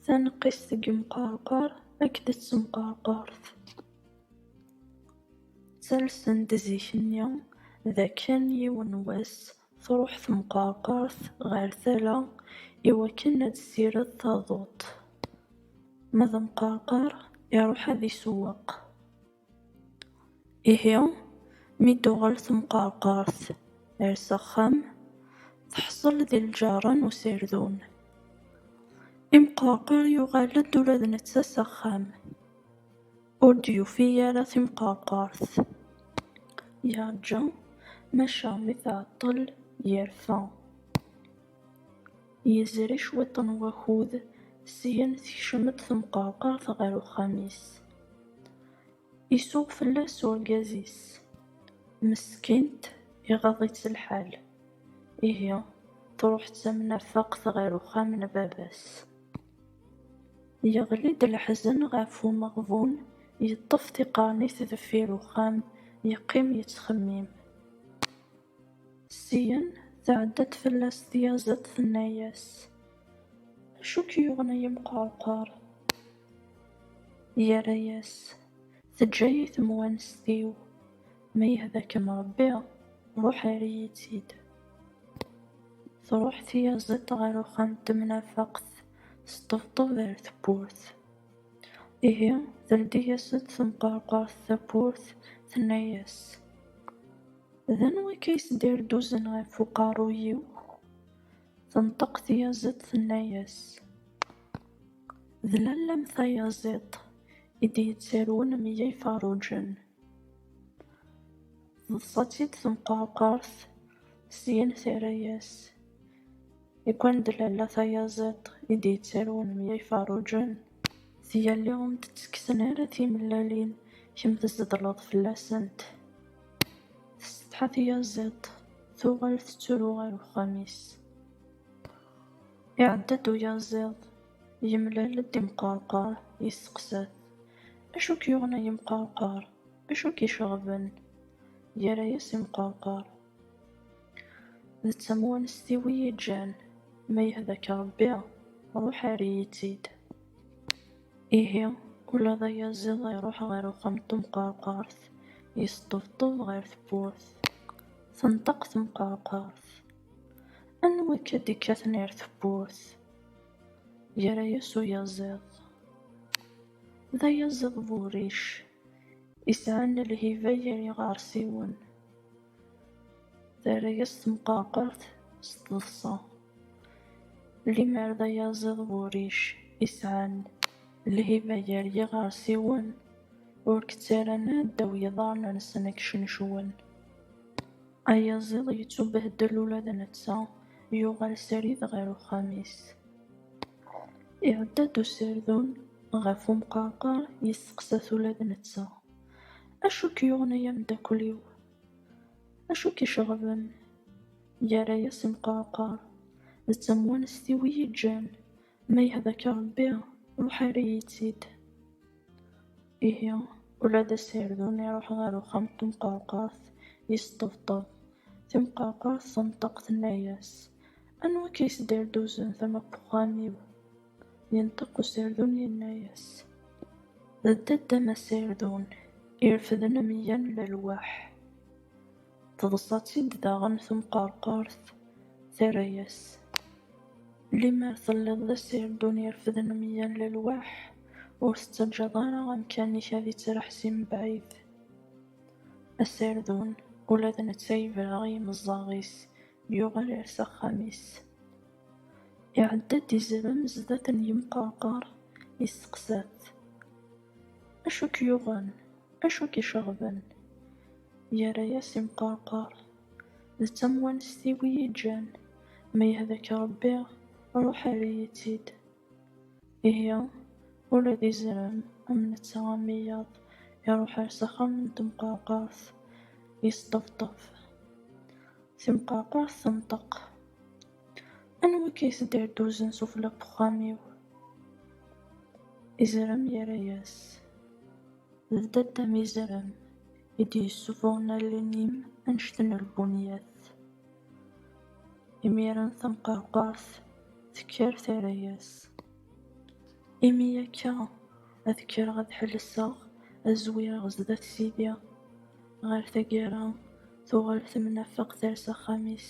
Taneqqist deg umqerqur akked d temqerqurt ttalsen-d zik-nni d akken yiwen n wass truḥ temqerqurt ɣer tala i wakken ad tessired taduṭ, ma d amqerqur iruḥ ad isewweq. Ihi, mi d-tuɣal temqerqert ar s axxam, teḥṣel di lǧerra n userdun. Imqerqer yuɣal-d ula d netta s axxam, ur d-yufi ara timqerqert. Yerǧa, maca mi tɛeṭṭel, yerfa. Yezri cwiṭ n wakud, syin tekcem-d temqerqert ɣer uxxam-is. Isuɣ fell-as urgaz-is. Meskint, iɣaḍ-itt lḥal. Ihi, truḥ d tamnafeqt ɣer uxxam n baba-s. Yeɣli-d leḥzen ɣef umeɣbun, yeṭṭef tiqernit deffir uxxam, yeqqim yettxemmim. Syin, tɛedda-d fell-as tyaziḍt, tenna-as, Acu k-yuɣen ay amqerqur? Yerra-as, Teǧǧa-yi temwanest-iw, ma yehda-kem Ṛebbi, ṛuḥ err-iyi-tt-id. Tṛuḥ tyaziḍt ɣer uxxam n temnafeqt, teṭṭebṭeb ar tewwurt. Ihi, teldi-yas-d temqerqurt tawwurt, tenna-as. D anwa akka i s-d-irduzen ɣef uqerruy-iw? Tenṭeq tyaziḍt tenna-yas, D lalla-m tayaziḍt i d-yettarwen meyya iferruǧen. Teḍsa-tt-id temqerqert, syin terra-yas, Ikwani d lalla tayaziḍt i d-yettarwen meyya iferruǧen? Tiyalli ur m-d-ttekksen ara timellalin, kemm tzeḍleḍ fell-asent. Tessetḥa tyaziḍt, tuɣal tettru ɣer uxxam-is. Iɛedda-d uyaziḍ, yemlal-d imqerqar, yesteqsa-t, Acu i k-yuɣen ay imqerqar? Acu i k-iceɣben? Yerra-yas imqerqar, D tamwanest-iw i yi-ǧǧan, ma yehda-k Rebbi, ruḥ err-iyi-tt-id. Ihi, ula d ayaziḍ iruḥ ɣer uxxam n temqerqert, yesṭebṭeb ɣer tewwurt. Tenṭeq temqerqert, Anwa i k-id-ikkaten ar tewwurt? Yerra-yas uyaziḍ, D ayaziḍ bu rric, yesɛan lhiba gar yiɣersiwen. Terra-yas temqerqert s teḍsa. Limer d ayaziḍ wuric isɛan lhiba gar yiɣersiwen ur k-ttarran ara ddaw yiḍarren-nsen ad k-cnecwen. Ayaziḍ yettubehdel ula d netta, yuɣal srid ɣer uxxam-is. Iɛedda-d userdun ɣef umqerqer yesteqsa-t ula d netta. Acu k-yuɣen ay ameddakel-iw? Acu k-iceɣben? Yerra-yas imqerqar, D tamwanest-iw i yi-ǧǧan, ma yehda-k Ṛebbi, ruḥ err-iyi-tt-id. Ihi, ula d aserdun iṛuḥ ɣer uxxam n temqerqart, yesṭebṭeb. Timqerqart tenṭeq, tenna-yas, Anwa akka yesderduzen tama n wexxam-iw? Yenṭeq userdun yenna-yas, D dda-d a Mass Erdun, irefden ameyya n lalwaḥ. Teḍsa-tt-id daɣen temqerqert, terra-yas, Limer telliḍ d aserdun irefden ameyya n lalwaḥ, ur tettaǧǧaḍ ara amkan-ik ad ittraḥ si mebɛid. Aserdun, ula d netta yebra i yimeẓẓaɣ-is, yuɣal ar s axxam-is. Iɛedda-d izerman zdat n yemqerqar, yesteqsa-t, Acu i k-yuɣen? Acu i k-iceɣben? Yerra-yas imqerqar, D tamwanest-iw i yi-ǧǧan, ma yehda-k Ṛebbi, ṛuḥ err-iyi-tt-id. Ihi, ula d izrem am netta am iyaḍ, iruḥ ar s axxam n temqerqert, yesṭebṭeb. Timqerqert tenṭeq, Anwa akka i tedderduzen sufella n wexxam-iw? Izrem yerra-yas, D dadda-m izrem i d-yessufuɣen allen-im annect n lbunyat. Imir-a tamqerqurt tekker terra-yas. Imi akka ad kkreɣ ad ḥelseɣ, ad zwireɣ zdat Sidi. Ɣer taggara, tuɣal temnafeq ters axxam-is.